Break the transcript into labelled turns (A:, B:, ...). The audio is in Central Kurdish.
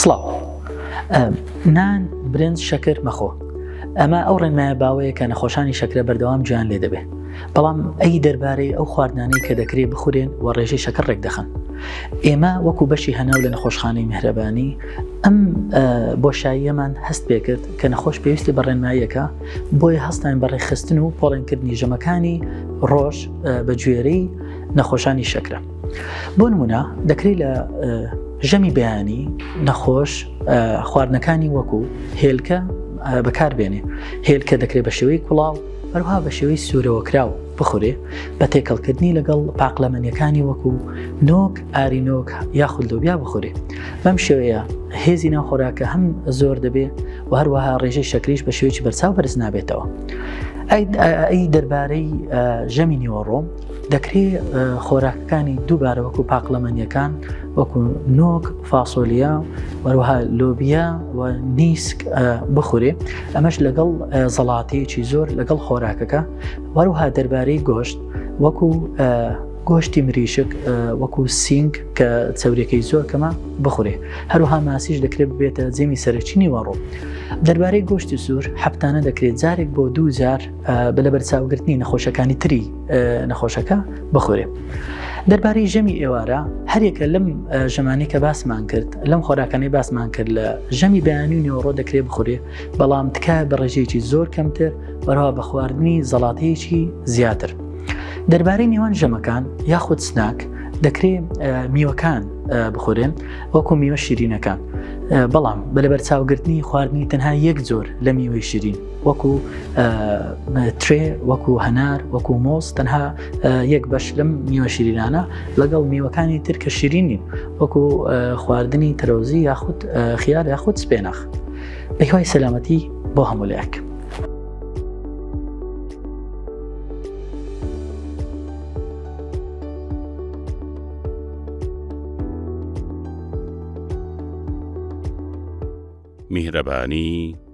A: سڵاو نان برنج شەکر مەخۆ ئەمە ئەو ڕێنمایە باوەیە کە نەخۆشانی شەکرە بەردەوام جویان لێ دەبێت بەڵام ئەی دەربارەی ئەو خواردنانەی کە دەکرێت بخورێن و ڕێژەی شەکر ڕێک دەخەن ئێمە وەکو بەشی هەناو لە نەخۆشخانەی میهرەبانی ئەم بۆشاییەمان هەست پێکرد کە نەخۆش پێویستی بە ڕێنماییەکە بۆیە هەستان بە ڕێخستن و پۆڵێنکردنی ژەمەکانی ڕۆژ بە گوێرەی نەخۆشانی شەکرە بۆ نمونە دەکرێت لە ژەمی بەیانی نەخۆش خواردنەکانی وەکو هێلکە بەکاربێنێ هێلکە دەکرێت بە شێوەی کوڵاو هەروها بە شێوەی سوورەوە کراو بخورێ بە تێکەڵکردنی لەگەڵ پاقلەمەنیەکانی وەکو نۆک ئارینۆک یاخود لۆبیا بخورێ بەم شێوەیە هێزی ناو خۆراکە هەم زۆر دەبێ و هەروەها ڕێژەی شەکریش بە شێوەی بەرچاو بەرز نابێتەوە ئەی دەربارەی ژەمی نیوەڕۆم دەکرێ خۆراکەکانی دووبارە وەکو پاقلەمەنیەکان وەکو نۆک فاسۆلیا وەروها لۆبیا و نیسک بخورێ ئەمەش لەگەڵ زەڵاتەیەکی زۆر لەگەڵ خۆراکەکە وەروها دەربارەی گۆشت وەکو گۆشتی مریشک وەکو سینگ کە چەورەکەی زۆر کەمە بخورێ هەروها ماسیش دەکرێت بێتە جێمی سەرچینی وەڕۆ دەربارەی گۆشتی سوور هەفتانە دەکرێت جارێک بۆ دوو جار بە لەبەرچاوگرتنی نەخۆشەکانی تری نەخۆشەکە بخورێ. دەربارەی ژەمی ئێوارە هەرێکە لەم ژەمانی کە باسمان کرد لەم خۆراکانی باسمان کرد لە ژەمی بەیانی و نێوەڕۆ دەکرێ بخورێ بەڵام تکایە بە ڕێژەیەکی زۆر کەمتر بەرەوە بە خواردنی زەڵاتەیەکی زیاتر. دەربارەی نێوان ژەمەکان یاخود سناک دەکرێ میوەکان بخورێن وەکو میوە شیرینەکان بەڵام بە لەبەر چاوگرتنی خواردنی تەنها یەک زۆر لە میوەی شیرین وەکو ترێ وەکو هەنار وەکو مۆز تەنها یەک بەش لەم نیوە شیرینانە لەگەڵ میوەکانی تر کە شیرینی وەکو خواردنی تەرۆزی یاخود خیار یاخود سپێنەخ بەهوای سەلامەتی بۆ هەمولەیەک.
B: میهرەبانی